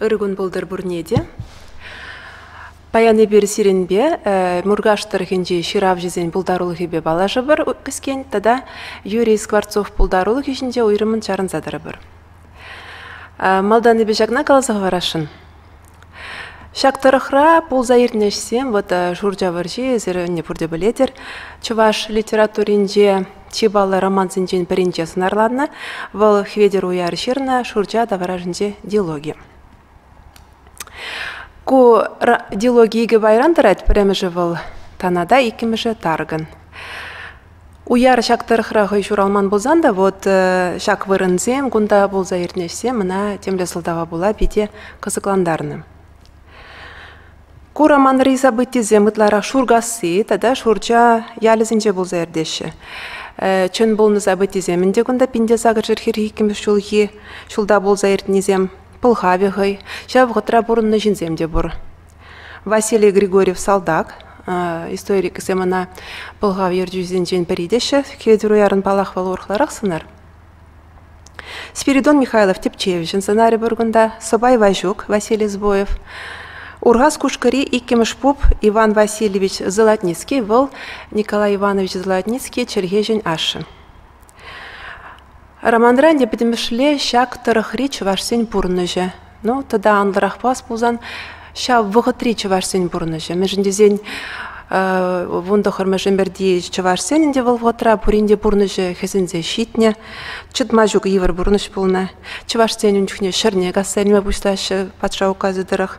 Ыр кун пултӑр пурне те. Паян эпир сирӗнпе Муркаш тӑрӑхӗнчи ҫыравҫӑсен пултарулӑхӗпе паллашӑпӑр кӗскен тата Юрий Скворцов пултарулӑхӗ ҫинче уйрӑммӑн чарӑнса тӑрӑпӑр. Малтан эпӗ ҫакна каласа хӑварасшӑн. Ҫак тӑрӑхра пулса иртнӗ ӗҫсем вӑтӑ Шурча вӑрҫи, эсир ӗнтӗ пурте пӗлетӗр, чӑваш литературинче чи паллӑ романсенчен пӗринче сӑнарланнӑ. Вӑл Хветӗр уяр ҫырнӑ Шурча таврашӗнче дилоги. Ку дилоги икӗ пайран тӑрать. Пӗрремӗшӗ вӑл Танада, иккӗмӗшӗ Тарган. Уяр ҫак тӑрӑхра хӑй ҫуралман пулсан та вот ҫак вырӑнсем кунта пулса иртнӗ ӗҫсем ӑна темле сӑлтава пула питӗ кӑсӑклантарнӑ. Ку романри событисем ытларах Шуркасси тата Шурча ялӗсенче пулса иртеҫҫӗ. Чӑн пулнӑ событисем ӗнтӗ кунта Пинте сакӑрҫӗр хӗрхи иккӗмӗш ҫулхи ҫулта пулса иртнисем. Пӑлхавӗ хӑй, ҫав вӑхӑтра пурӑннӑ ҫынсем те пур. Василий Григорьев салтак. Историкӗсем ӑна пӑлхав ертӳҫисенчен пӗри теҫҫӗ. Хветӗр уярӑн палах вӑл урӑхларах сӑнар. Спиридон Михайлов тӗпчевҫӗн сӑнарӗ пур кунта. Сӑпай Ваҫук, Василий Сбоев. Урхас Кушкӑри иккӗмӗш пуп Иван Васильевич Золотницкий вӑл Николай Иванович Золотницкий чӗлхеҫӗн ашшӗ. Романра ӗнтӗ пӗтӗмӗшле ҫак тӑрӑхри чӑвашсен пурнӑҫӗ. Ну, тата анлӑрахпа пулсан, ҫав вӑхӑтри чӑвашсен пурнӑҫӗ. Мӗншӗн тесен вун тӑхӑрмӗш ӗмӗрти чӑвашсен ӗнтӗ вӑл вӑхӑтра пурин те пурнӑҫӗ хӗсӗнсе ҫитнӗ, чӑтма ҫук йывӑр пурнӑҫ пулнӑ. Чӑвашсен ун чухне ҫӗрне касса илме пуҫлаҫҫӗ патша указӗ тӑрӑх.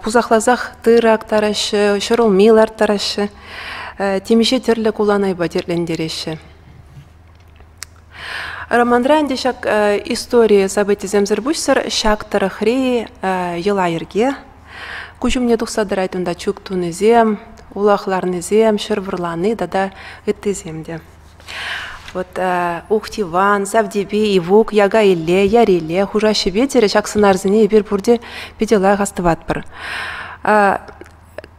Пусахласах тырӑ актараҫҫӗ, ҫӗр улми ларттараҫҫӗ. темиҫе тӗрлӗ куланайпа тертлентереҫҫӗ. Романра ӗнтӗ ҫак истори событисемсӗр пуҫсӑр ҫак тӑрӑхри йӑла-йӗрке куҫ умне тухса тӑрать унта чӳк тунисем, улах ларнисем, ҫӗр вӑрлани тата ыттисем те. Вот Ухтиван, Савтепи, Ивук, Яга Илле, Яр Илле хушаҫҫӗпе терӗ ҫак сӑнарсене эпир пурте питӗ лайӑх астӑватпӑр.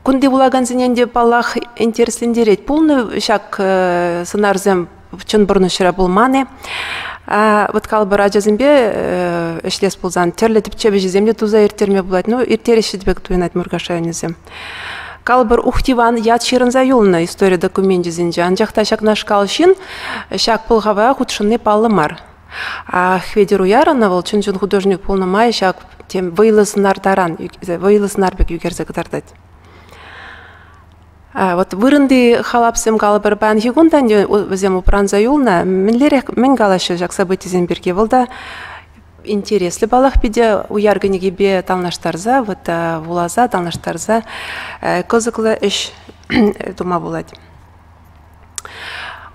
Кунти вулакансене те, паллах, интереслентерет пулнӑ ҫак сӑнарсем чӑн пурнӑҫра пулман-и. Вот калӑпӑр ачасемпе ӗҫлес пулсан тӗрлӗ тӗпчев ӗҫӗсем те туса ирттерме пулать. Ну, ирттереҫҫӗ те пек туйӑнать Муркаш районӗсем. Калӑпӑр, Ухтиван ят ҫырӑнса юлнӑ истори докуменчӗсенче. Анчах та ҫакнашкал ҫын ҫак пӑлхава хутшӑнни паллӑ мар. Хветӗр Уярӑна вӑл чун-чун художник пулнӑ май ҫак тем вӑйлӑ сӑнар таран, вӑйлӑ сӑнар пек ӳкерсе кӑтартать. Вот вырӑнти халапсем калӑпӑр паянхи кун та вӗсем упранса юлнӑ. Мӗнлерех мӗн калаҫҫӗ ҫак событисем пирки? Вӑл та интереслӗ паллах питӗ уяр кӗнекипе танлаштарса, вот вуласа танлаштарса кӑсӑклӑ ӗҫ тума пулать.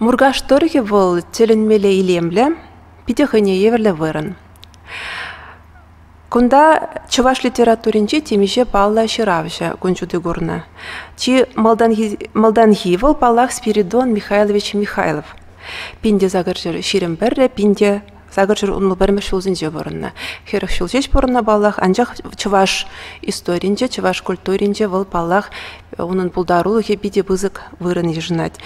Муркаш тӑрӑхӗ вӑл тӗлӗнмелле илемлӗ, питӗ хӑйне евӗрлӗ вырӑн. Кунта чӑваш литературинче темиҫе паллӑ ҫыравҫӑ кун ҫути курнӑ. Чи малтанхи, малтанхи вӑл, паллах, Спиридон Михайлович Михайлов. Пин те сакӑр ҫӗр ҫирӗм пӗрре, пин те Сакӑр ҫул урлӑ пӗрмӗш ҫулсенче пурӑннӑ. Хӗрӗх ҫул ҫеҫ пурӑннӑ паллах, анчах чӑваш историйӗнче, чӑваш культуринче вӑл паллах унӑн пултарулӑхӗ питӗ пысӑк вырӑн йышӑнать.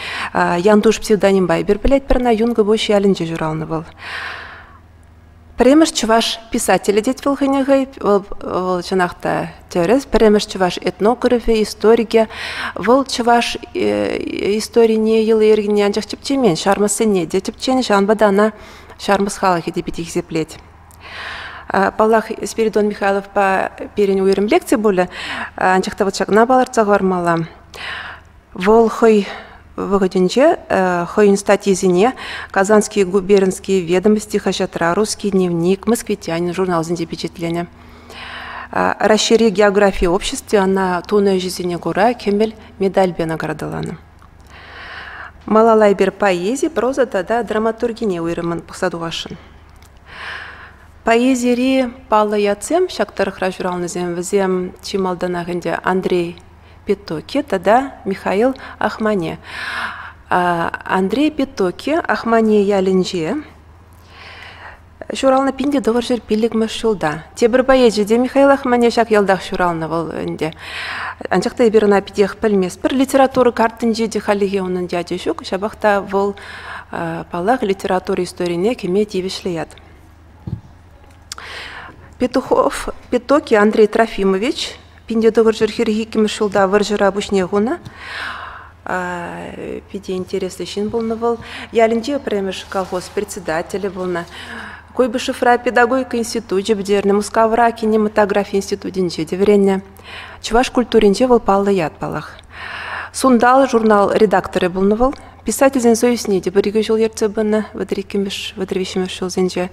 Янтуш псевдонимпа эпир пӗлетпӗр ӑна, Юнкӑпуҫ ялӗнче ҫуралнӑ вӑл. Пӗрремӗш чӑваш писателӗ тет вӑл хӑйне хӑй. Вӑл, вӑл чӑнах та тӗрӗс. Пӗрремӗш чӑваш этнографӗ, историкӗ. Вӑл чӑваш э, историне, йӑли-йӗркине анчах тӗпчемен, ҫармӑссене те тӗпченӗ. Ҫавӑнпа та ӑна ҫармӑс халӑхӗ те питӗ хисеплет. Паллах, Спиридон Михайловпа пирӗн уйрӑм лекци пулӗ, анчах та вот ҫакна палӑртса хӑвармалла. Вӑл хӑй вӑхӑтӗнче хӑйӗн статйисене Казанские губернские ведомости хаҫатра «Русский дневник», «Москвитянин» журналсенче пичетленӗ. Раҫҫейри географи обществи ӑна тунӑ ӗҫӗсене кура кӗмӗл медальпе наградӑланӑ. Малалайбер поэзи, проза тата драматургине уйрӑммӑн пӑхса тухасшӑн. Поэзири паллӑ ятсем, ҫак тӑрӑхра ҫуралнисем, вӗсем чи малтанах ӗнтӗ Андрей Петоки тата Михаил Ахмане. Андрей Петоки Ахмане ялӗнче Ҫуралнӑ пин те тӑвӑрҫӗр пиллӗкмӗш ҫулта. Тепӗр поэчӗ те, Михаил Ахманьев, ҫак ялтах ҫуралнӑ вӑл ӗнтӗ. Анчах та эпир ӑна питех пӗлмест. Пӗр литература картинче те халлӗхе унӑн ячӗ ҫук, ҫапах та вӑл, паллах, литература историне кӗме тивӗҫлӗ ят. Петухов, Петоки Андрей Трофимович, Пинте тӑвӑрҫӑр хӗрӗх иккӗмӗш ҫулта вӑрҫӑра пуҫне хунӑ. Питӗ интереслӗ ҫын пулнӑ вӑл. Ялӗнче пӗрремӗш колхоз председателӗ пулнӑ. Куйбышевра педагогика институчӗ пӗтернӗ, Мускавра кинематографи институтӗнче те вӗреннӗ. Чӑваш культуринче вӑл паллӑ ят паллах. Сунтал журнал редакторӗ пулнӑ вӑл. Писательсен союзне те пӗр-икӗ ҫул ертсе пынӑ вӗтӗр иккӗмӗш, вӗтӗр виҫҫӗмӗш ҫулсенче.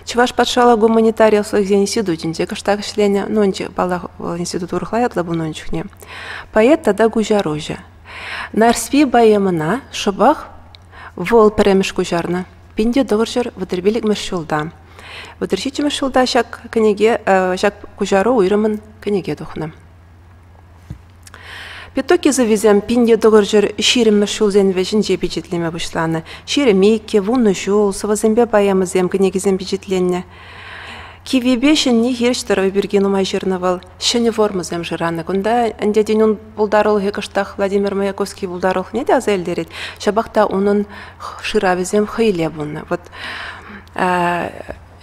Чӑваш патшалӑх гуманитари ӑслӑхӗсен институтӗнче кӑштах ӗҫленӗ. Нонче, паллах, вӑл институт урӑхла ятлӑ пулнӑ ун чухне. Поэт тата куҫаруҫӑ. Нарспи поэмӑна шӑпах вӑл пӗрремӗш куҫарнӑ. Пинте тӑхӑрҫӑр вӑтӑрпиллӗкмӗш ҫулта. Вӑтӑр ҫиччӗмӗш ҫулта ҫак кӗнеке, ҫак куҫару уйрӑмӑн кӗнеке тухнӑ. Пяток йышӑвӗсем пинте тӑкӑр ҫӗр ҫирӗммӗш ҫулсен вӗҫӗнче пичетлеме пуҫланӑ. Ҫеремейке, вунӑ ҫул, сӑвӑсемпе поэмӑсем, кӗнекисем пичетленнӗ. Киввипе ҫӗнни хирӗҫ тӑрӑв пирки нумай ҫырнӑ вӑл. Ҫӗнӗ формӑсем шыранӑ. Кунта ӗнтӗ тен ун пултарулӑхӗ кӑштах Владимир Маяковский пултарулӑхне те аса илтерет. Ҫапах та унӑн шыравӗсем хӑйле пулнӑ. Вот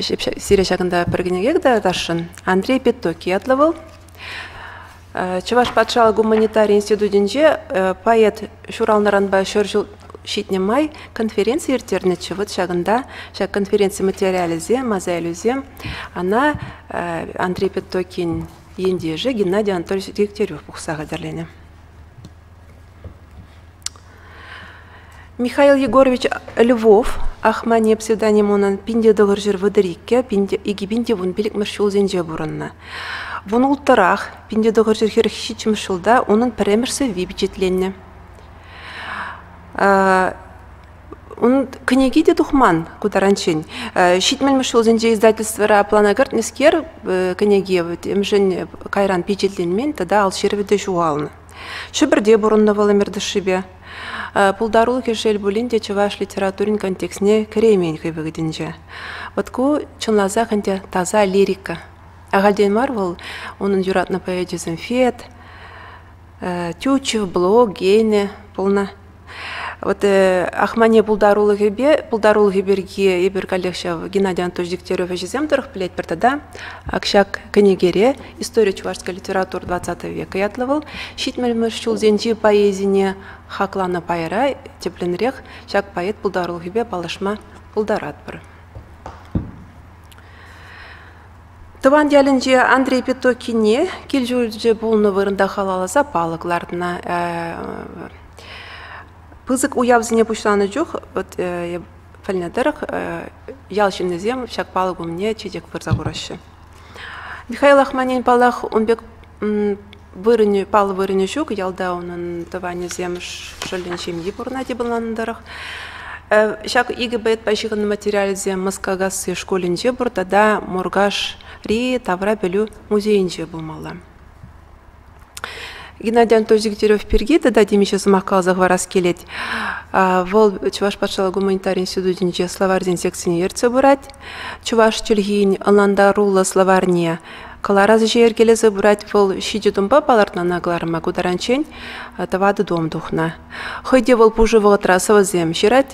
сире ҫакӑнта пӗр кӗнеке кӑтартасшӑн. Андрей Пятоки ятлӑ вӑл. Чӑваш патшалӑх гуманитари институтӗнче поэт ҫуралнӑранпа ҫур ҫул ҫитнӗ май конференци ирттернӗччӗ. Вот ҫакӑнта, ҫак конференци материалӗсем, мозаилӗсем, ана Андрей Петтокин ентешӗ Геннадий Анатольевич Дегтярев пухса хатӗрленӗ. Михаил Егорович Львов Ахмане псевдоним унӑн пин те тӑхӑр ҫӗр вӑтӑр иккӗ, пин те икӗ пин те вун пиллӗкмӗш ҫулсенче пурӑннӑ. Вун улттӑрах, пин те тӑхӑр ҫӗр хӗрӗх ҫиччӗмӗш ҫулта унӑн пӗрремӗш сӑвви пичетленнӗ. Унӑн кӗнеки те тухман ку таранччен. Ҫитмӗлмӗш ҫулсенче издательствӑра плана кӗртнӗскер кӗнеке эмшӗн кайран пичетленмен тата ал ҫырӑвӗ те ҫухалнӑ. Ҫӗпӗрте пурӑннӑ вӑл ӗмӗр тӑршшӗпе. Пултарулӑхӗ шел пулин те чӑваш литературин контекстне кӗреймен хӑй вӑхӑтӗнче. Вот ку чӑнласах ӗнтӗ таса лирика. Ахальтен мар вӑл унӑн юратнӑ поэчӗсем Фет, Тютчев, Блок, Гейне пулнӑ. Вот э, Ахмане пултарулӑхӗпе пултарулӑхӗ пирки эпир каллех ҫав Геннадий Анатольевич Дегтярев ӗҫӗсем тӑрӑх пӗлет пӗр тата ҫак кӗнекере истори чувашской литературы 20 века ятлӑ вӑл ҫитмӗлмӗш ҫулсенчи поэзине хакланӑ пайра тӗплӗнрех ҫак поэт пултарулӑхӗпе паллашма пултаратпӑр. Тӑван ялӗнче Андрей Пятокине кил-ҫурчӗ пулнӑ вырӑнта халалласа палӑк лартнӑ. Пысӑк уявсене пуҫланӑ чух вот эп пӗлнӗ тӑрӑх ял ҫыннисем ҫак палӑк умне чечек пырса хураҫҫӗ. Михаил Ахманин, паллах, ун пек Вырӑнӗ, паллӑ вырӑнӗ ҫук. Ялта унӑн тӑванӗсем шӑллӗн ҫемйи пурӑнать йӑпанланнӑ тӑрӑх. Ҫак икӗ балетпа ҫыхӑннӑ материалӗсем Москакасси шкулӗнче пур тата Муркашри тавра пӗлӳ музейӗнче пулмалла. Геннадий Анатольевич Дегтярев пирки тата темиҫе сӑмах каласа хӑварас килет. Вӑл Чӑваш патшалӑх гуманитар институтӗнче словарьсен секцине ертсе пырать. Чӑваш чӗлхин ӑнлантаруллӑ словарьне Кӑларас ӗҫе йӗркелесе пырать вӑл ҫичӗ тумпа палӑртнӑна кӑларма ку таранччен тӑватӑ том тухнӑ. Хӑй те вӑл пушӑ вӑхӑтра сӑвӑсем ҫырать.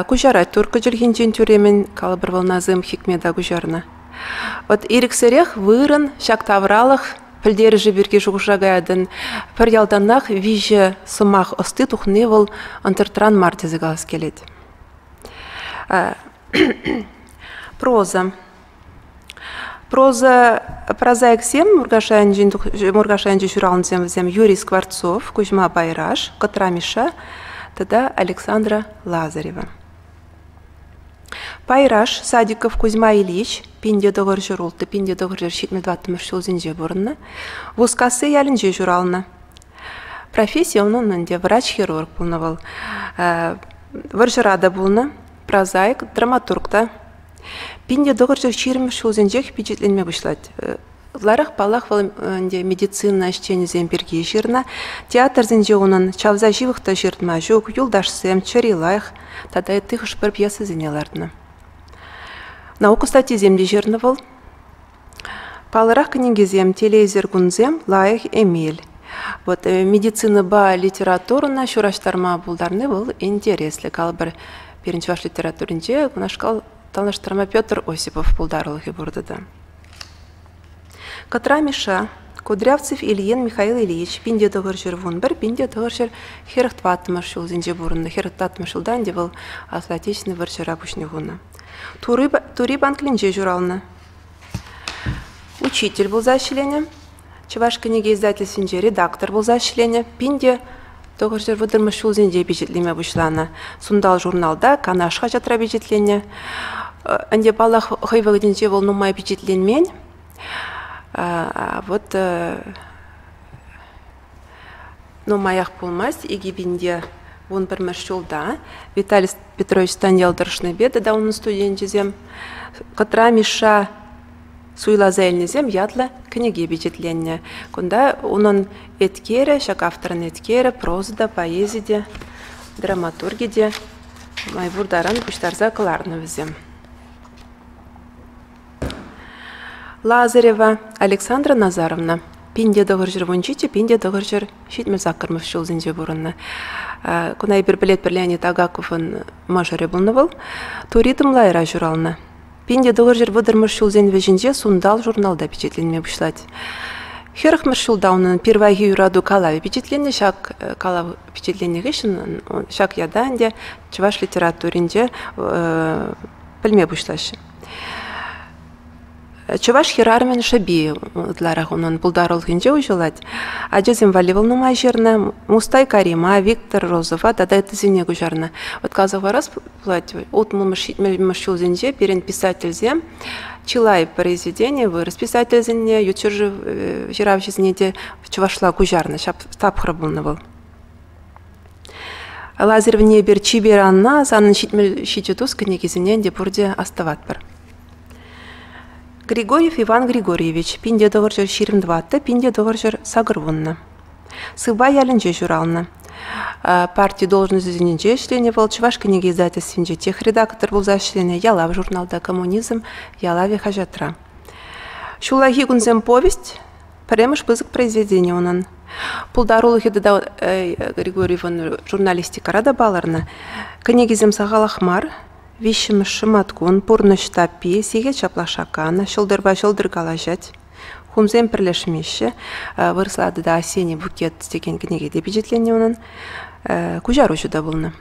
Куҫарать турккӑ чӗлхинчен тӳремӗн калӑпӑр вӑлнасем Хикмета куҫарнӑ. Вот ирӗксерех вырӑн ҫак тавралӑх пӗлтерӗшӗ пирки шухӑша каятӑн. Пӗр ялтанах виҫӗ сӑмах ӑсти тухни вӑл ӑнтӑртран мар тесе калас килет. Проза Прозаиксем Муркаш районӗнчи ҫуралнисем вӗсем Юрий Скворцов, Кузьма Байраш, Кӑтра Миша тата Александра Лазарева. Пайраш Садиков Кузьма Ильич пинде тӑхӑр ҫӗр ултӑ пинде тӑхӑр ҫӗр ҫитмӗл тӑваттӑмӗш ҫулсенче пурӑннӑ, Вускасси ялӗнче ҫуралнӑ. Професси унӑн ӗнтӗ врач-хирург пулнӑ вӑл. Вӑрҫӑра та пулнӑ. прозаик, драматург та пин те тӑхӑрҫӑх ҫирӗммӗш ҫулсенчех пичетленме пуҫлать. Ытларах, паллах, вӑл ӗнтӗ медицина ӗҫченӗсем пирки ҫырнӑ. Театрсенче унӑн чавса ҫывӑх та ҫыртма ҫук «Юлташсем», «Чӗри лайӑх» тата ытти хӑш-пӗр пьесисене лартнӑ. Наука статйисем те ҫырнӑ вӑл. Паллӑрах кӗнекесем, телейсӗр кунсем, лайӑх эмел. Вот медицинӑпа литературӑна ҫураҫтарма пултарни вӑл интереслӗ. Калӑпӑр, пирӗн чӑваш литературинче кунашкал танлаштарма Петр Осипов пултарулӑхӗ пур тата. Кӑтра Миша, Кудрявцев Ильин Михаил Ильич, пинте тӑхӑр ҫӗр вунпӗр, пинте тӑхӑр ҫӗр хӗрӗх тӑваттӑмӗш ҫулсенче пурӑннӑ. Хӗрӗх тӑваттӑмӗш ҫулта ӗнтӗ вӑл Аслӑ Отечественнӑй вӑрҫӑра пуҫне хунӑ. Тури банклӗнче ҫуралнӑ. Учитель пулса ӗҫленӗ, Чӑваш кӗнеке издательствинче редактор пулса ӗҫленӗ. Пин те тӑхӑрҫӗр вӑтӑрмӗш ҫулсенче пичетлеме пуҫланӑ. Сунтал журналта Канаш хаҫатра пичетленнӗ. Ӗнтӗ, паллах, хӑй вӑхӑтӗнче вӑл нумай пичетленмен. Вот Нумаях пулмасть икӗ пин те вун пӗрмӗш ҫулта Виталий Петрович Станьял тӑрӑшнипе тата унӑн студенчӗсем «Кӑтра Мишша суйласа илнисем» ятлӑ кӗнеке пичетленнӗ. Кунта унӑн эткерӗ, ҫак авторӑн эткерӗ, проза та, поэзи те, драматурги те май пур таран пуҫтарса кӑларнӑ вӗсем. Лазарева Александра Назаровна пин те тӑхӑр ҫӗр вун ҫиччӗ, пин те тӑхӑр ҫӗр ҫитмӗл саккӑрмӗш ҫулсенче пурӑннӑ. Куна эпир пӗлетпӗр Леонид Агаковӑн мӑшӑрӗ пулнӑ вӑл. Тури Тӑмлайра ҫуралнӑ. Пин те тӑхӑр ҫӗр вӑтӑрмӗш ҫулсен вӗҫӗнче Сунтал журналта пичетленме пуҫлать. Хӗрӗхмӗш ҫулта унӑн пирвайхи юрату калавӗ пичетленнӗ. Ҫак калав пичетленнӗ хыҫҫӑн ҫак ята ӗнтӗ чӑваш литературинче пӗлме пуҫлаҫҫӗ. Чӑваш хӗрарӑмӗн шӑпи ытларах унӑн пултарулӑхӗнче уҫӑлать. Ачасем валли вӑл нумай ҫырнӑ. Мустай Карима, Виктор Розова тата ыттисене куҫарнӑ. Вӑт каласа хӑварас пулать, утмӑлмӗш ҫитмӗлмӗш ҫулсенче пирӗн писательсем чылай произведени вырӑс писательсене, ют ҫӗршыв ҫыравҫисене те чӑвашла куҫарнӑ. Ҫап тапхӑр пулнӑ вӑл. Лазарь Внебер чипер Анна санӑн ҫитмӗл тус кӗнекисене те пурте астӑватпӑр. Григорьев Иван Григорьевич пинте тӑвӑрҫӑр ҫирӗм тӑватӑ пинте тӑвӑрҫӑр сакӑр вуннӑ. Сывпа ялӗнче ҫуралнӑ. Парти должноҫӗсенче ӗҫленӗ вӑл Чӑваш кӗнеке издательствинче техредактор пулса ӗҫленӗ «Ялав» журналта «Коммунизм ялавӗ» хаҫатра. Ҫуллахи кунсем повесть пӗрремӗш пысӑк произведени унӑн. Пултарулӑхӗ тата Григорьевӑн журналистикӑра та палӑрнӑ. Кӗнекисем сахалах мар. Виҫҫӗмӗш шӑматкун Пурнӑҫ таппи, Сехет ҫаплашакан, Ҫӑлтӑрпа ҫӑлтӑр калаҫать. Хумсем пӗрлешмеҫҫӗ. Вырӑсла тата Осенний букет текен кӗнеке те пичетленнӗ унӑн. Куҫаруҫӑ та пулнӑ.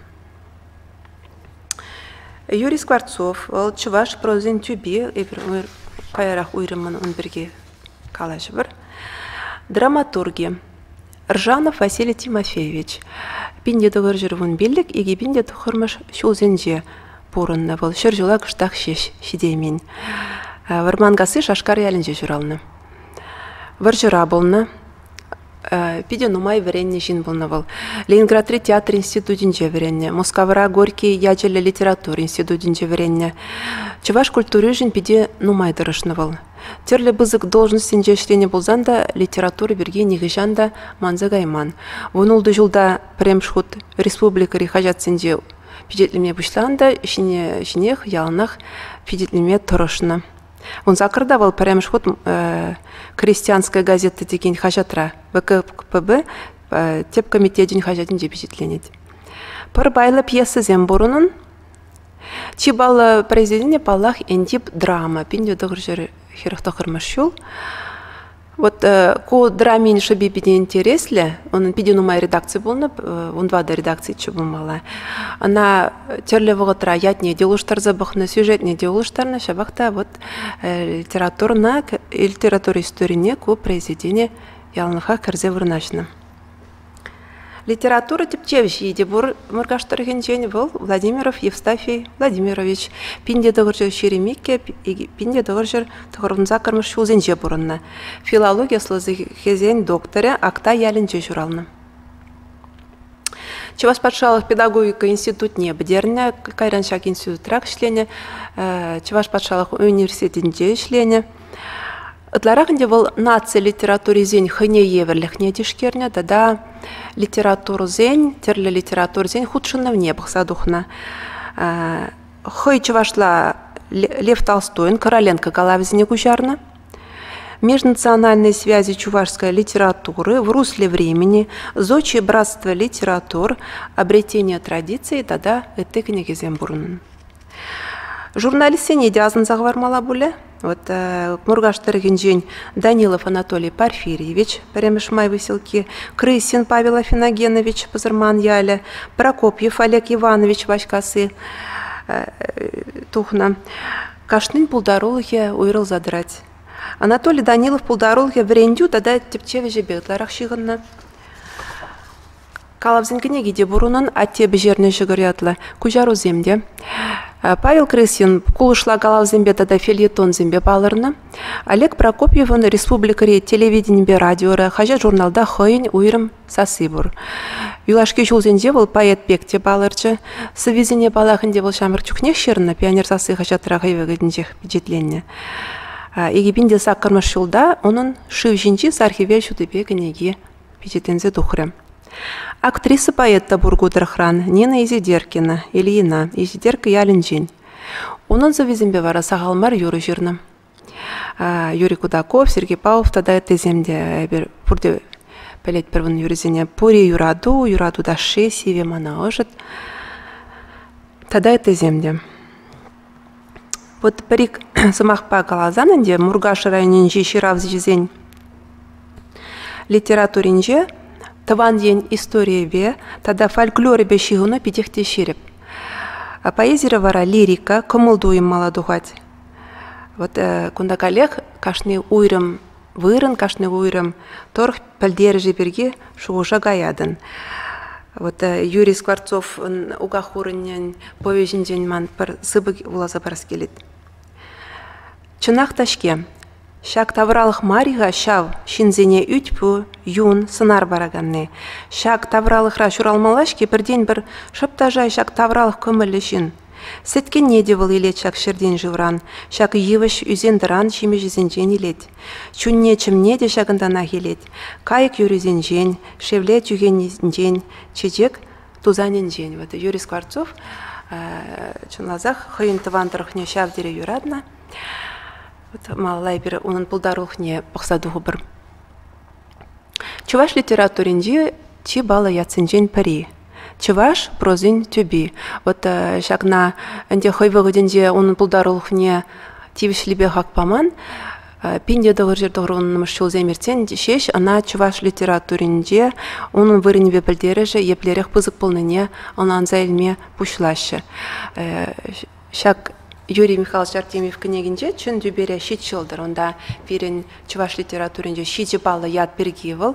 Юрий Скворцов, вӑл чӑваш прозин тӳпи, эпир каярах уйрӑммӑн ун пирки калаҫӑвӑр драматурги Ржанов Василий Тимофеевич пин те тӑхӑрҫӗр вун пиллӗк икӗ пин те тӑхӑрмӗш ҫулсенче пурӑннӑ вӑл ҫӗр ҫула кӑштах ҫеҫ ҫитеймен вӑрманкасси шашкар ялӗнче ҫуралнӑ вӑрҫӑра пулнӑ Питӗ нумай вӗреннӗ ҫын пулнӑ вӑл. Ленинградри театр институтӗнче вӗреннӗ, Мускавра Горький ячӗллӗ литература институтӗнче вӗреннӗ. Чӑваш культуришӗн питӗ нумай тӑрӑшнӑ вӑл. Тӗрлӗ пысӑк должноҫсенче ӗҫленӗ пулсан та литература пирки нихӑҫан та манса кайман. Вунултӑ ҫулта пӗрремӗш хут республикӑри хаҫатсенче пичетлеме пуҫланӑ та ҫине ҫинех яланах пичетлеме тӑрӑшнӑ. Ун саккӑрта вӑл пӗрремӗш хут «Крестьянская газета» текен хаҫатра ВКПБ тӗп комитечӗн хаҫатӗнче пичетленет. Пӗр пайлӑ пьесӑсем пур унӑн. Чи паллӑ произведение, паллах, Энтип драма, 1900 хӗрӗх тӑхӑрмӗш ҫул. Вот э, ку драмин шӑпи питӗ интереслӗ. Унӑн питӗ нумай редакци пулнӑ, э, унпа та редакциччӗ пулмалла. Ӑна тӗрлӗ вӑхӑтра ятне те улӑштарса пӑхнӑ, сюжетне те улӑштарнӑ. Ҫапах та вот э, литературӑна, литература историне ку произведение яланлӑха кӗрсе вырнаҫнӑ. Литература тӗпчевҫи те пур Муркаш тӑрӑхӗнчен. Вӑл Владимиров Евстафий Владимирович пин те тӑхӑрҫӗр ҫирӗм иккӗ, пин те тӑхӑрҫӗр тӑхӑрӑн саккӑрмӗш ҫулсенче пурӑннӑ. Филологи ӑслӑлӑхӗсен докторӗ Актай ялӗнче ҫуралнӑ. Чӑваш патшалӑх педагогика институтне пӗтернӗ. Кайран ҫак институтра ӗҫленӗ. Чӑваш патшалӑх университетӗнче ӗҫленӗ. Ытларах ӗнтӗ вӑл наци литературисен хӑйне евӗрлӗхне тишкернӗ тата литературӑсен, тӗрлӗ литературӑсен хутшӑнӑвне пӑхса тухнӑ. Хӑй чӑвашла Лев Толстойӑн Короленко калавӗсене куҫарнӑ. Межнациональные связи чувашской литературы, В русле времени, Зодче братство литератур, Обретение традиций тата ытти кӗнекесем пурӑннӑ. Журналистсене те асӑнса хӑвармалла пулӗ. Вот э, Муркаш тӑрӑхӗнчен Данилов Анатолий Порфирьевич, пӗрремӗш май выселки, Крысин Павел Афиногенович, Пӑсӑрман ялӗ, Прокопьев Олег Иванович Ваҫкасси э, тухнӑ. Кашнин пултарулӑхӗ уйрӑлса тӑрать. Анатолий Данилов пултарулӑхӗ вӗрентӳ тата тӗпчев ӗҫӗпе ытларах ҫыхӑннӑ. Калавсен кӗнеки те пур унӑн «Атте пӗҫернӗ ҫӑкӑр» ятлӑ, куҫарусем те. Павел Крысин кулӑшла калавсемпе тата фельетонсемпе палӑрнӑ. Олег Прокопьевӑн республикӑри телевиденипе радиора, хаҫат-журналта хӑйӗн уйрӑм сасси пур. Юлашки ҫулсенче вӑл поэт пек те палӑрчӗ. Сӑввисене палах ӗнтӗ вӑл ҫамрӑк чухнех ҫырнӑ, «Пионер сасси» хаҫатра хӑй вӑхӑтӗнчех пичетленнӗ. Икӗ пин те саккӑрмӗш ҫулта унӑн «Шыв ҫинчи сар хӗвел» ҫутипе кӗнеки пичетленсе тухрӗ. Актриса поэт та пур ку тӑрӑхран Нина Изидеркина, Ильина, Изидерка ялӗнчен. Унӑн сӑввисемпе вара сахал мар юрӑ ҫырнӑ. Юрий Кудаков, Сергей Павлов тата ыттисем те эпир пурте пӗлетпӗр вун юрӑсене. Пури юрату, юрату ташши, сивӗ мана ӑшӑт тата ыттисем те. Вот пӗр-ик сӑмахпа каласан ӗнтӗ Муркаш районӗнчи ҫыравҫӑсен литературинче тӑван ен историйӗпе тата фольклорӗпе ҫыхӑну питех те ҫирӗп. Поэзире вара лирика, кӑмӑл-туйӑм мала тухать. Вот кунта каллех кашни уйрӑм вырӑн кашни уйрӑм тӑрӑх пӗлтерӗшӗ пирки шухӑша каятӑн. Вот Юрий Скворцовӑн Уках хурӑнӗн повеҫӗнчен ман пӗр сыпӑк вуласа парас килет. Чӑнах та-ҫке, ҫак тавралӑх мар-и-ха ҫав ҫынсене ӳт-пӳ, юн, сӑнар параканни? Ҫак тавралӑхра ҫуралмалла-ҫке пӗртен-пӗр шӑп та шай ҫак тавралӑх кӑмӑллӗ ҫын – Сӗткенне те вӑл илет ҫак ҫӗртен шывран, ҫак йывӑҫ ӳсен-тӑран ҫимӗҫӗсенчен илет. Чунне-чӗмне те ҫакӑнтанах илет. Кайӑк юррисенчен, шевле чӳхенӗсенчен, чечек тусанӗнчен. Вот Юрий Скворцов чӑнласах хӑйӗн тӑван тӑрӑхне ҫав тери юратнӑ. Вот малалла эпир унӑн пултарулӑхне пӑхса тухӑпӑр. Чӑваш литературинчи чи паллӑ ятсенчен пӗри чӑваш прозин тӳпи. Вот ҫакна ӗнтӗ хӑй вӑхӑтӗнче унӑн пултарулӑхне тивӗҫлипе хак паман. Пин тӑвӑрҫӑр тӑхӑрвуннӑмӗш ҫулсем иртсен ҫеҫ ӑна чӑваш литературинче унӑн вырӑнӗпе пӗлтерӗшӗ еплерех пысӑк пулнине ӑнланса илме пуҫлаҫҫӗ. Ҫак Юрий Михайлович Артемьев кӗнекинче чун тӳпере ҫич ҫӑлтӑр. Унта пирӗн чӑваш литературинче ҫичӗ паллӑ ят пирки вӑл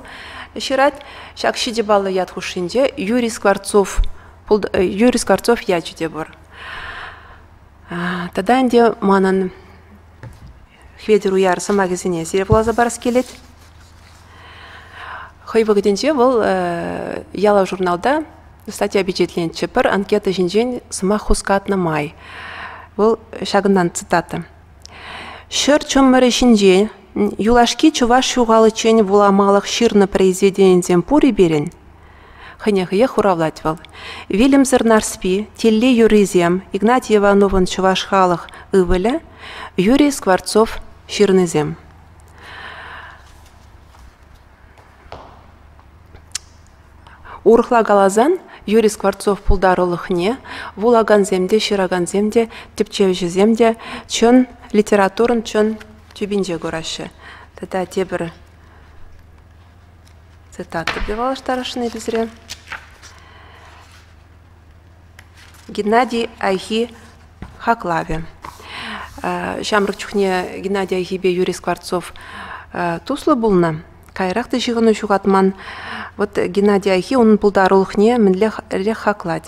ҫырать. Ҫак ҫичӗ паллӑ ят хушшинче Юрий Скворцов, э, Юрий Скворцов ячӗ те пур. Тата ӗнтӗ манӑн Хветӗр уяр сӑмахӗсене сире вуласа парас килет. Хӑй вӑхӑтӗнче вӑл ялав журналта статья пичетленчӗ. Пӗр анкета ҫинчен сӑмах хускатнӑ май. Вӑл ҫакӑнтан цитата. Ҫӗр чӑмӑрӗ ҫинчен юлашки чӑваш ҫухаличчен вуламалӑх ҫырнӑ произведенисем пур-и пирӗн? Хӑнехиех хуравлать вӑл. Вилӗмсӗр Нарспи, Тилли юррисем, Игнатий Ивановӑн чӑваш халӑх ывӑлӗ Юрий Скворцов ҫырнисем. Урӑхла каласан, Юрий Скворцов пултарулӑхне вулакансем те, ҫыракансем те, тӗпчевҫӗсем те чӑн литературӑн чӑн тӳпинче кураҫҫӗ. Тата тепӗр Цитатӑпе паллаштарасшӑн эпӗ Геннадий Айхи хаклавӗ. Ҫамрӑк чухне Геннадий Айхипе Юрий Скворцов туслӑ пулнӑ, каярах та ҫыхӑну ҫухатман. Вот Геннадий Айхи унӑн пултарулӑхне мӗнле хаклать.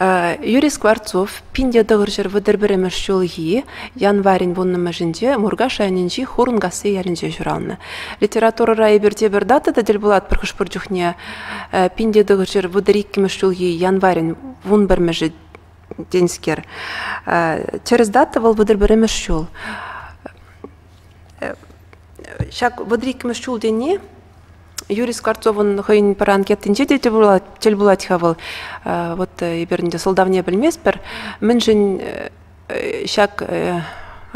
Юрий Скворцов пин те тӑхӑрҫӗр вӑтӑр пӗрремӗш ҫулхи январӗн вуннӑмӗшӗнче Муркаш районӗнчи Хурӑнкасси ялӗнче ҫуралнӑ. Литературӑра эпирте пӗр дата та тӗл пулатпӑр хӑш-пӗр чухне пин те тӑхӑрҫӗр вӑтӑр иккӗмӗш ҫулхи январӗн вун пӗрмӗшӗ тенскер. Тӗрӗс дата вӑл вӑтӑр пӗрремӗш ҫул. Ҫак вӑтӑр иккӗмӗш ҫул тени Юрий Скворцовӑн хӑйӗн пӗр анкетинче те тӗл пулать, тӗл пулать-ха вӑл. Вот эпир ӗнтӗ сӑлтавне пӗлместпӗр. Мӗншӗн ҫак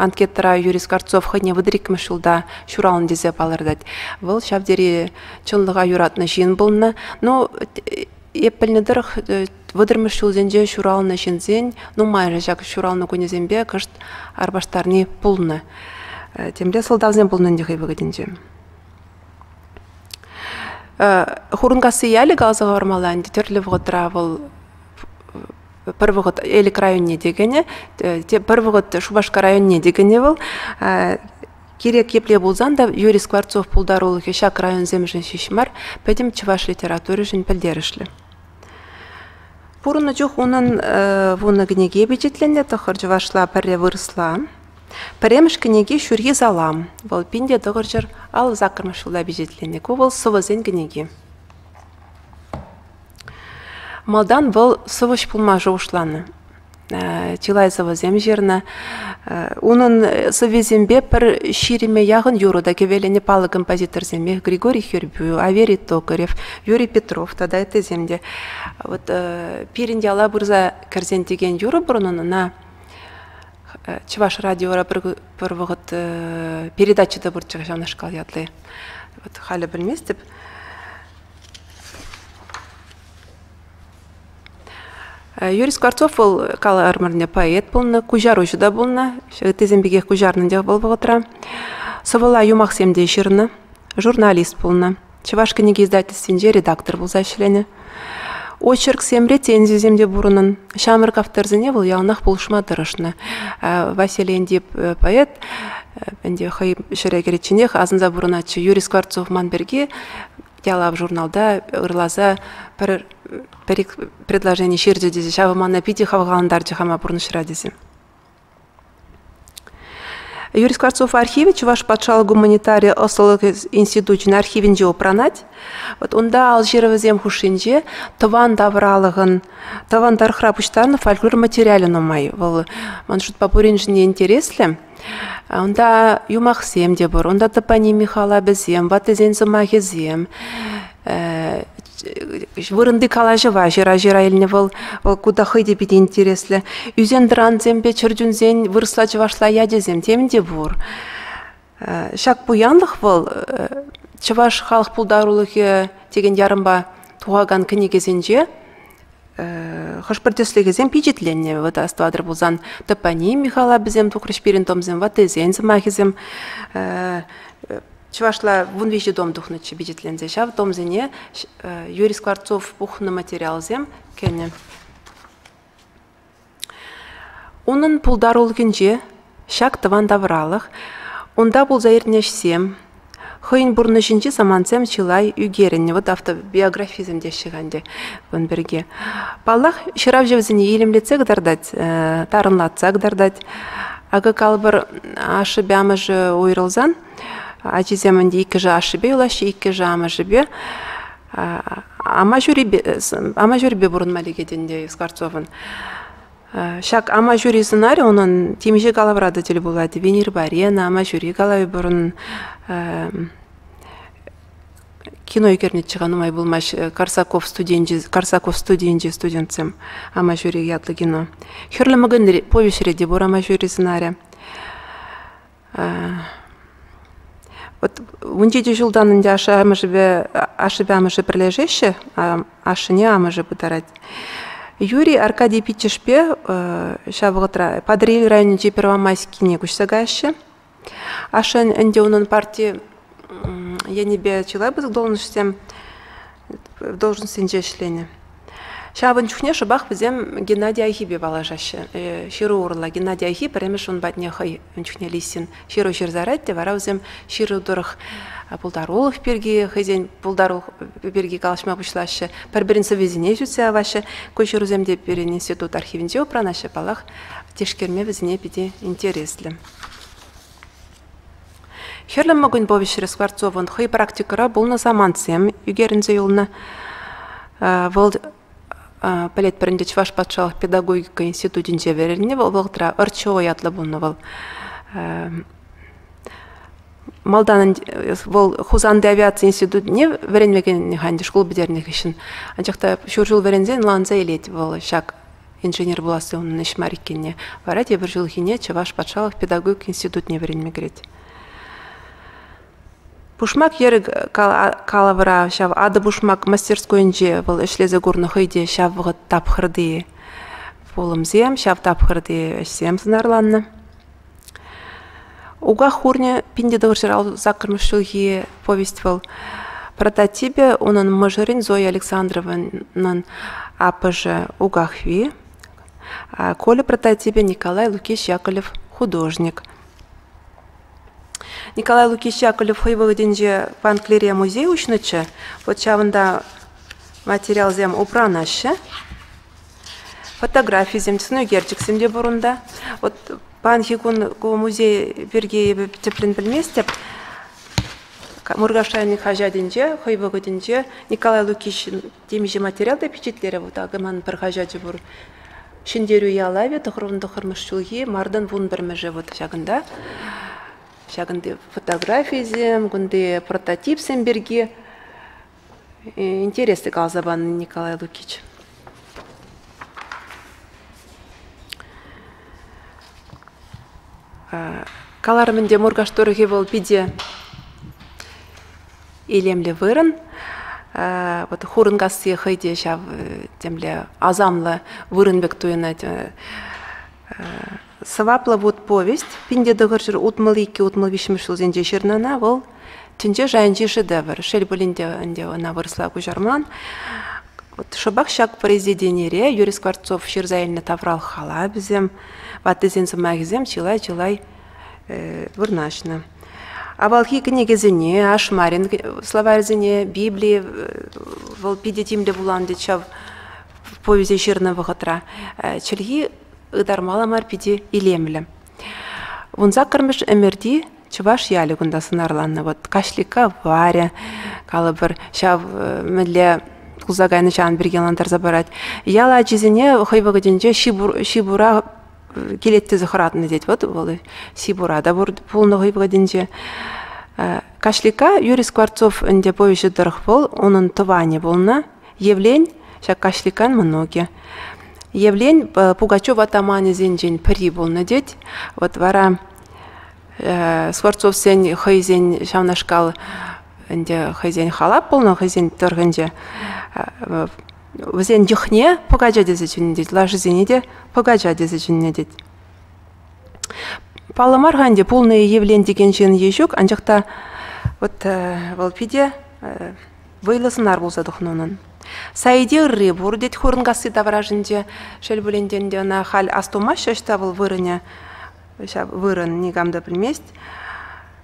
анкетӑра Юрий Скворцов хӑйне вытӑр ҫулта ҫуралнӑ тесе палӑртать. Вӑл ҫав тери чӑнлӑха юратнӑ ҫын пулнӑ. Ну, эп пӗлнӗ тӑрӑх вӑтӑрмӗш ҫулсенче ҫуралнӑ ҫынсен нумайӑшӗ ҫак ҫуралнӑ кунӗсемпе кӑшт арпаштарни пулнӑ. Темле сӑлтавсем пулнӑ ӗнтӗ хӑй вӑхӑтӗнче. Хурӑнкасси ялӗ каласа хӑвармалла ӗнтӗ тӗрлӗ вӑхӑтра вӑл пӗр вӑхӑт Элӗк районне те кӗнӗ, пӗр вӑхӑт Шупашкар районне те кӗнӗ вӑл. Кирек епле пулсан та Юрий Скворцов пултарулӑхӗ ҫак районсемшӗн ҫеҫ мар, пӗтӗм чӑваш литературишӗн пӗлтерӗшлӗ. Пурӑннӑ чух унӑн вунӑ кӗнеке пичетленнӗ, тӑхӑр чӑвашла, пӗрре вырӑсла. Пӗрремӗш кӗнеки ҫурхи салам. Вӑл пин те тӑхӑрҫӗр аллӑ саккӑрмӗш ҫулта пичетленнӗ. Ку вӑл сӑвӑсен кӗнеки. Малтан вӑл сӑвӑҫ пулма шухӑшланӑ. Чылай сӑвӑсем ҫырнӑ. Унӑн сӑввисемпе пӗр ҫирӗме яхӑн юрӑ та кӗвеленӗ паллӑ композиторсемпе Григорий Хирбю, Аверий Токарев, Юрий Петров тата ыттисем те. Вот пирӗн яла пырса кӗрсен текен юрӑ пур унӑн, ӑна Чӑваш радиора пӗр вӑхӑт передача та пурччӗ ҫавнашкал ятли. Вот халӗ пӗлместӗп. Юрий Скворцов вӑл калӑ ӗрмӗрне поэт пулнӑ, куҫаруҫӑ та пулнӑ. Ыттисем пекех куҫарнӑ те вӑл вӑхӑтра. Сӑвӑла юмахсем те ҫырнӑ, журналист пулнӑ. Чӑваш кӗнеке издательствинче редактор пулса ӗҫленӗ. Очерксемре тензисем те пур унӑн. Ҫамрӑк авторсене вӑл яланах пулӑшма тӑрӑшнӑ. Василий Эндип поэт ӗнтӗ хӑй ҫӗре кӗричченех асӑнса пурӑнатчӗ. Юрий Скворцов ман пирки ялав журналта ырласа пӗр пӗр предложени ҫырчӗ тесе ҫавӑ мана питӗ хавхалантарчӗ хама пурнӑҫра тесе. Юрий Скворцов архивӗ Чӑваш патшалӑх гуманитари ӑслӑлӑх институчӗн архивӗнче упранать. Вот унта алҫырӑвӗсем хушшинче тӑван тавралӑхӑн, тӑван тӑрӑхра пуҫтарнӑ фольклор материалӗ нумай. Вӑл ман шутпа пуриншӗн интереслӗ. Унта юмахсем те пур. Унта топоним Михалабӗсем, ваттисен сӑмахӗсем, вырӑнти калаҫӑва ҫыра ҫыра илнӗ вӑл вӑл ку та хӑй те питӗ интереслӗ ӳсен-тӑрансемпе чӗрчунсен вырӑсла чӑвашла ячӗсем тем те пур ҫак пуянлӑх вӑл чӑваш халӑх пултарулӑхӗ текен ярӑмпа тухакан кӗнекесенче хӑш-пӗр тӗслӗхӗсем пичетленнӗ вӑт астӑватӑр пулсан топоним михалапӗсем тухрӗҫ пирӗн томсем ваттисен сӑмахӗсем Чӑвашла вун виҫӗ том тухнӑччӗ пичетленсе. Ҫав томсене Юрий Скворцов пухнӑ материалсем кӗнӗ. Унӑн пултарулӑхӗнче ҫак тӑван тавралӑх, унта пулса иртнӗ ӗҫсем, хӑйӗн пурнӑҫӗнчи самантсем чылай ӳкерӗннӗ. Вот автобиографисем теҫҫӗ-ха ӗнтӗ кун пирки. Паллах, ҫыравҫӑ вӗсене илемлетсе кӑтартать, тарӑнлатса кӑтартать. Акӑ калӑпӑр, ашшӗпе амӑшӗ уйрӑлсан Ачисем ӗнтӗ иккӗшӗ ашшӗпе юлаҫҫӗ, иккӗшӗ амӑшӗпе. Ама ҫурипе пурӑнма лекет ӗнтӗ Скворцовӑн. Ҫак ама ҫури сӑнарӗ унӑн темиҫе калавра та тӗл пулать. Венерпа Рена, ама ҫури калавӗ пурӑн. Кино ӳкернӗччӗ-ха нумай пулмасть Карсаков студенчӗ, Карсаков студенчӗ студентсем Ама ҫури ятлӑ кино. Хӗрлӗ мӑкӑнь повеҫре те пур ама ҫури сӑнарӗ. Вот ун ҫитӳ ҫултан ӗнтӗ ашшӗ-амӑшӗпе ашшӗпе-амӑшӗ пӗрлешеҫҫӗ. Ашшӗне амӑшӗ пытарать. Юрий Аркадий пиччӗшпе ҫав вӑхӑтра Патӑрьел районӗнчи Первомайскине куҫса каҫҫӗ. Ашшӗ ӗнтӗ унӑн парти енӗпе чылай пысӑк должноҫсем должностьсенче ӗҫленӗ. Ҫавӑн чухне шӑпах вӗсем Геннадий Айхипе паллашаҫҫӗ. Э, ҫыру урлӑ Геннадий Айхи пӗрремӗш ун патне хӑй ун чухне Лисин ҫыру ҫырсарать те вара вӗсем ҫыру тӑрӑх пултарулӑх пирки хӑйсен пултарулӑх пирки калаҫма пуҫлаҫҫӗ, пӗр-пӗрин сӑввисене ҫутса яваҫҫӗ. Ку ҫырусем те пирӗн институт архивӗнче упранаҫҫӗ. Паллах, тишкерме вӗсене питӗ интереслӗ. Хӗрлӗ мӑкӑнь повеҫре Скворцовӑн хӑй практикӑра пулнӑ самантсем ӳкерӗнсе юлнӑ. Вӑл пӗлетпӗр ӗнтӗ Чӑваш патшалӑх педагогика институтӗнче вӗреннӗ. Вӑл вӑхӑтра Ӑрчево ятлӑ пулнӑ вӑл. Малтан вӑл Хусанти авиаци институтне вӗренме кӗнӗ-ха ӗнтӗ шкул пӗтернӗ хыҫҫӑн. Анчах та ҫур ҫул вӗренсен ӑнланса илет вӑл ҫак инженер пуласси унӑн ӗҫ мар иккенне. Вара тепӗр ҫулхине Чӑваш патшалӑх педагогика институтне вӗренме кӗрет. Пушмак йӗрӗ калавра ҫав Атӑ-пушмак мастерскойӗнче вӑл ӗҫлесе курнӑ хӑй те ҫав вӑхӑт тапхӑрти пулӑмсем, ҫав тапхӑрти ӗҫсем сӑнарланнӑ. Уках хурне пин те тӑвӑрҫӑра саккӑрмӗш ҫулхи повесть вӑл. Прототипӗ унӑн мӑшӑрӗн Зоя Александровнӑн аппӑшӗ Укахви. Коля прототипӗ Николай Лукич Яковлев художник. Николай Лукич Яковлев хӑй вӑхӑтӗнче Панклире музей уҫнӑччӗ. Вот ҫавӑнта материалсем упранаҫҫӗ. фотографисем, сӑнӳкерчӗксем те пур унта. Вот паянхи кун ку музей пирки эпӗ тӗплӗн пӗлместӗп. Муркаш районӗн хаҫатӗнче хӑй вӑхӑтӗнче Николай Лукичӑн темиҫе материал та пичетлерӗ вӑл такӑ манӑн пӗр хаҫачӗ пур. Ҫӗнтерӳ ялавӗ тӑхӑрмӑн тӑхӑрмӗш ҫулхи мартӑн вун пӗрмӗшӗ вот ҫакӑнта. Ҫакӑнти фотографисем, кунти прототипсем пирки интереслӗ каласа панӑ Николай Лукич. Каларӑм ӗнтӗ, Муркаш тӑрӑхӗ вӑл питӗ илемлӗ вырӑн. Вот Хурӑнкасси хӑй те ҫав темле асамлӑ вырӑн пек туйӑнать. Сӑваплӑ вут-повесть пин те тӑхӑрҫӗр утмӑл иккӗ-утмӑл виҫҫӗмӗш ҫулсенче ҫырнӑна вӑл тӗнче шайӗнчи шедевр. Шел пулин те ӗнтӗ ӑна вырӑсла куҫарман. Вот шӑпах ҫак произведенире Юрий Скворцов ҫырса илнӗ таврал халапӗсем, ваттисен сӑмахӗсем чылай-чылай вырнаҫнӑ. Авалхи кӗнекесене, ашмарин словарӗсене, Библи вӑл питӗ тимлӗ вуланӑ тет ҫав повеҫе ҫырнӑ вӑхӑтра. Чӗлхи ытармалла мар питӗ илемлӗ. Вун саккӑрмӗш ӗмӗрти чӑваш ялӗ кунта сӑнарланнӑ. Вот Каҫлика Варя, калӑпӑр, ҫав мӗнле пулса кайнӑҫан пирки ӑнлантарса парать. Ял ачисене хӑй вӑхӑтӗнче ҫипура килет тесе хӑратнӑ тет. Вот вӑл Сибура та пулнӑ хӑй вӑхӑтӗнче. Каҫлика Юрий Скворцов ӗнтӗ повеҫӗ тӑрӑх вӑл, унӑн тӑванӗ пулнӑ, Евлен, ҫак каҫликан мӑнукӗ. Евлен Пугачев атаманӗсенчен пӗри пулнӑ тет. Вот вара Скворцовсен хӑйсен ҫавнашкал ӗнтӗ хӑйсен халап пулнӑ хӑйсен тӑрӑхӗнче. Вӗсен йӑхне пӑкача тесе чӗннӗ тет, лашисене те пӑкача тесе чӗннӗ тет. Паллӑ мар-ха ӗнтӗ, пулнӑ-и Евлен текен ҫын е ҫук, анчах та вот вӑл питӗ вӑйлӑ сӑнар пулса тухнӑ унӑн. Саиде ырри пур, тет Хурӑнкасси таврашӗнче. Шел пулин те ӗнтӗ ӑна халь астумаҫҫӗ ӑҫта вӑл вырӑнӗ, ҫав вырӑн никам та пӗлмест.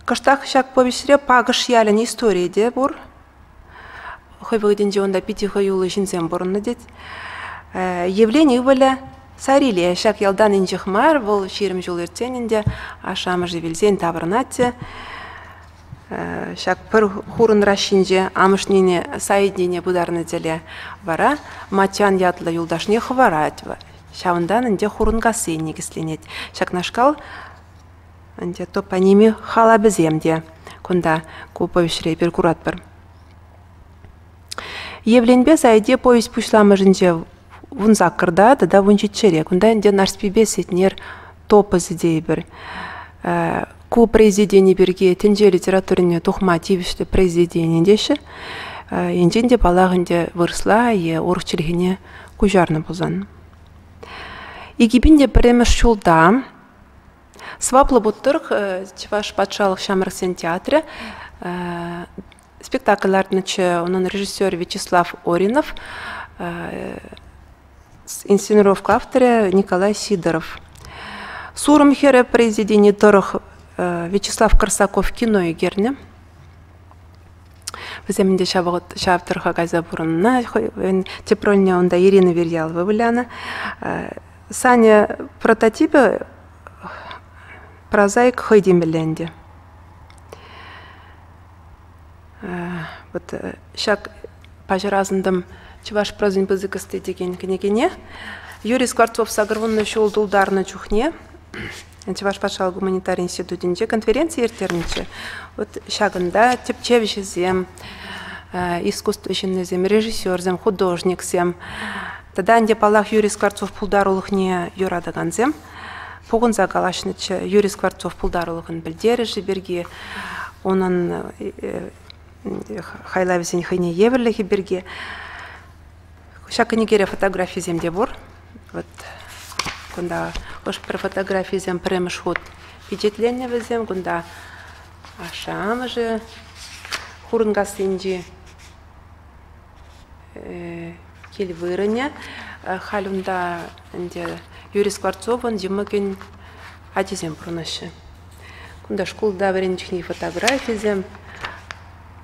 Кӑштах ҫак повеҫре Пакӑш ялӗн историйӗ те пур. Хӑй вӑхӑтӗнче унта питӗ хӑюллӑ ҫынсем пурӑннӑ тет. Евлен ывӑлӗ Сариле ҫак ялтан инҫех мар, вӑл ҫирӗм ҫул иртсен ӗнтӗ ашшӗ-амӑшӗ вилсен таврӑнать те Ҫак пӗр хурӑн ращинче амӑшнене Саиднене пытарнӑ тӗле вара Матьян ятлӑ юлташне хӑварать. Ҫавӑнтан ӗнтӗ хурӑнкасси никӗсленет. Ҫакнашкал ӗнтӗ топоними халапӗсем те кунта ку повеҫре пир куратпӑр. Евленпе Сайте повесть пуҫламӑшӗнче вун саккӑрта тата вун ҫиччӗре. Кунта ӗнтӗ Нарспипе Сетнер топосӗ тейӗпӗр. Ку произведени пирки тӗнче литературине тухма тивӗҫлӗ произведени теҫҫӗ. Енчен те паллах ӗнтӗ вырӑсла е урӑх чӗлхене куҫарнӑ пулсан. Икипин те пӗрремӗш ҫулта Сваплӑ Буттырх Чӑваш патшалӑх ҫамрӑксен театрӗ спектакль лартнӑччӗ унӑн режиссерӗ Вячеслав Оринов инсценировка авторӗ Николай Сидоров. Сурӑм хӗрӗ произведени тӑрӑх Вячеслав Корсаков кино ӳкернӗ. Вӗсем ӗнтӗ ҫав вӑхӑт ҫав тӑрӑха кайса пурӑннӑ. Тӗп рольне унта Ирина Верьялова вылянӑ. Саня прототипӗ прозаик хӑй темелле ӗнтӗ. вот ҫак паҫӑр асӑнтӑм чӑваш прозин пысӑкости текен кӗнекене юрий скворцов сакӑрвуннӑ ҫул тултарнӑ чухне чӑваш патшалӑх гуманитари институтӗнче конференци ирттернӗччӗ вот ҫакӑнта тӗпчевҫӗсем искусство ҫыннисем режиссерсем художниксем тата ӗнтӗ паллах юрий скворцов пултарулӑхне юратакансем пухӑнса калаҫнӑччӗ. Юрий Скворцов пултарулӑхӑн пӗлтерӗшӗ пирки, унӑн хайлавӗсен хӑйне евӗрлӗхӗ пирки. Ҫак кӗнекере фотографисем те пур. Вот кунта хӑш-пӗр фотографисем пӗрремӗш хут пичетленнӗ вӗсем. Кунта ашшӗ-амӑшӗ Хурӑнкассинчи кил вырӑнӗ. Халь унта ӗнтӗ Юрий Скворцовӑн йӑмӑкӗн ачисем пурӑнаҫҫӗ. Кунта шкулта вӗренчӗкни фотографисем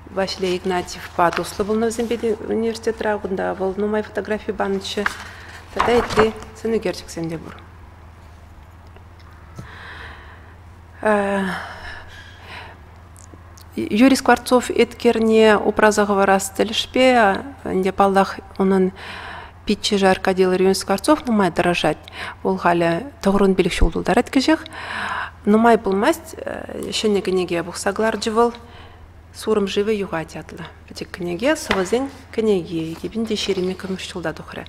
Василий Игнатьевпа туслӑ пулнӑ вӗсемпе университетра. Кунта вӑл нумай фотографи панӑччӗ. Тата ытти сӑнӳкерчӗксем те пур. Юрий Скворцов эткерне упраса хӑварас тӗлӗшпе ӗнтӗ паллах унӑн пиччӗшӗ Аркадий Ларионович Скворцов нумай тӑрӑшать. Вӑл халӗ тӑхӑрӑн пилӗк ҫул тултарать кӗҫех. Нумай пулмасть ҫӗнӗ кӗнеке пухса кӑларчӗ вӑл «Сурӑм шывӗ юхать» ятлӑ. пӗчӗк кӗнеке, сӑвӑсен кӗнеки, эпин те ҫирӗмме кӗмӗш ҫулта тухрӗ.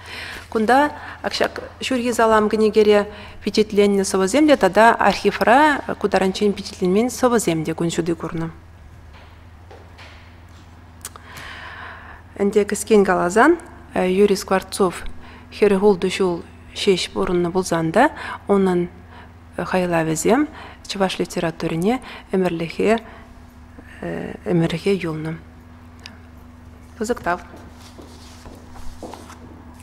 Кунта ҫак ҫурхи салам кӗнекере пичетленнӗ сӑвӑсемле тата архивра ку таранччен пичетленмен сӑвӑсем те кун ҫути курнӑ. Ӗнтӗ кӗскен каласан, Юрий Скворцов хӗрӗ хултӑ ҫул ҫеҫ пурӑннӑ пулсан та унӑн хайлавӗсем чӑваш литературине ӗмӗрлӗхе ӗмӗрӗхе юлнӑ. Пысӑк тав.